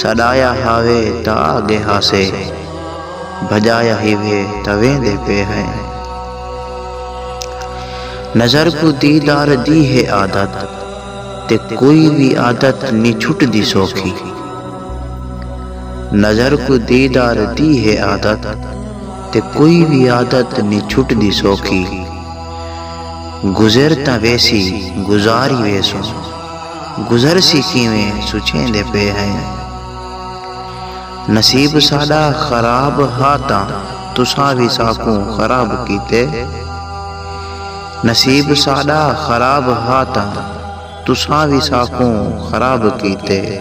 سݙایا ہاوے تاں آ ڳئے ہاسے بھڄایا ہیوے تاں ویندے پئے ہئے نظر کوں دیدار دی ہے عادت تے کوئی وی عادت نی چھٹدی سوکھی نظر کوں دیدار دی ہے عادت تے کوئی وی عادت نی چھٹدی سوکھی گزر تاں ویسی گزار ہی ویسوں گزرسی کیویں سوچیندے پئے ہئیں۔ نصیب ساݙا خراب ہا تاں تساں وی ساکوں خراب کیتے۔ نصیب ساݙا خراب ہا تاں تساں وی ساکوں خراب کیتے۔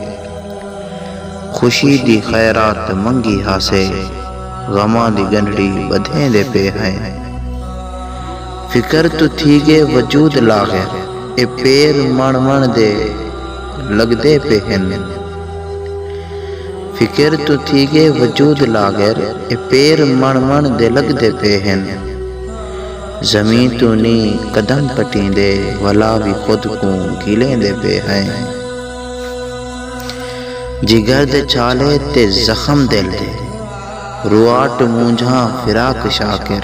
خوشی دی خیرات منگی ہاسے غماں دی ڳنڈھڑی ٻدھیندے پئے ہئیں۔ فکر توں تھی ڳئے وجود لاغر اے پیر مݨ مݨ دے لڳدے پئے ہن فکر توں تھی ڳئے وجود لاغر اے پیر مݨ مݨ دے لڳدے پئے ہن زمیں توں نی قدم پٹیندے ولا وی خود کوں گھلیندے پئے ہئیں جگر دے چھالے تے زخم دل دے رواٹ مونجھاں فراق شاکر۔